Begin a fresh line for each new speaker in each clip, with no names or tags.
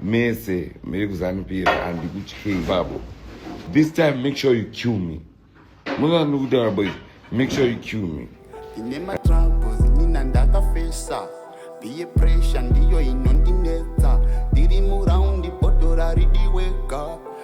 mese miri kuzanupira handikutyei babo this time make sure you kill me munoa ndiri kutaura boys make sure you kill me ine matroubles
nina ndakafesa biye pressure ndiyo inondinetsa ndiri muraundi botora ridiweka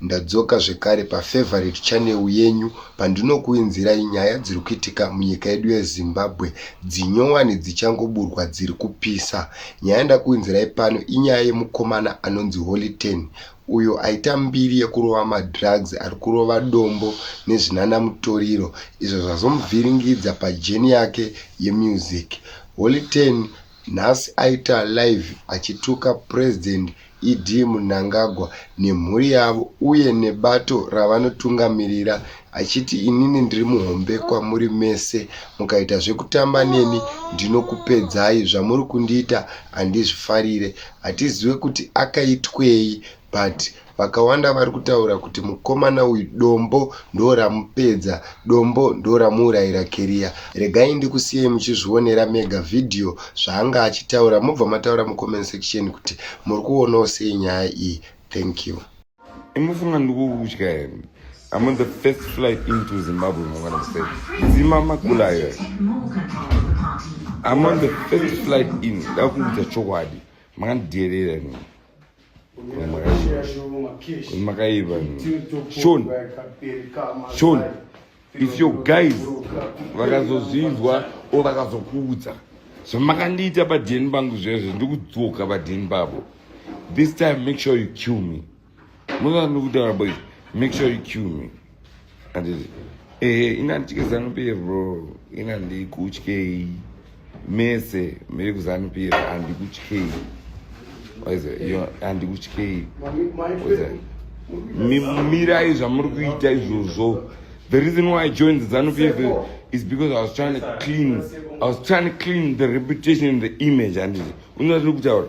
Ndadzoka zvekare pa favorite channel yenyu pandinokuinzirai nyaya dziri kuitika munyika yedu ye Zimbabwe dzinyowani dzichangoburwa dziri kupisa. Nyaya yandakuinzirai pano inyaya yemukomana anonzi Holy Ten uyo aita mbiri yekurova madrugs ari kurova dombo nezvinana mutoriro izvo zvazomuvhiringidza pajeni yake yemusic. Holy Ten nhasi aita live achituka President ED Mnangagwa nemhuri yavo uye nebato ravanotungamirira achiti inini ndiri muhombe kwamuri mese mukaita zvekutamba neni ndinokupedzai zvamuri kundiita handizvifarire hatizive kuti akaitwei but vakawanda vari kutaura kuti mukomana uyu dombo ndoramupedza Dombo ndoramuurayira carrier. Regai ndikusiyei muchizvionera mega video zvaanga achitaura mobva mataura mucomment section kuti muri kuonawo sei nyaya iyi. Thank you. Imofunga
ndikukutya here? I'm on the first flight into Zimbabwe mangwana musei. Zima makula here? I'm on the first flight in. Ndakuudza chokwadi. Makandidherera nini? makaiva shon shon if your guys vakazozvinzwa o vakazokuudza zvamakandiita badheni bangu zvezvo ndikudzoka badheni bavo this time make sure you kill me muzanokutaura boys make sure you kill me Eh, ina ndichike zanupf bro ina ndikutyei mese miri kuzanupf handikutyei handikutyei mirai zvamuri kuita izvozvo the reason why i joined the zanupf is because i was trying to clean i was trying to clean the reputation and the image handiti unatiri kutaura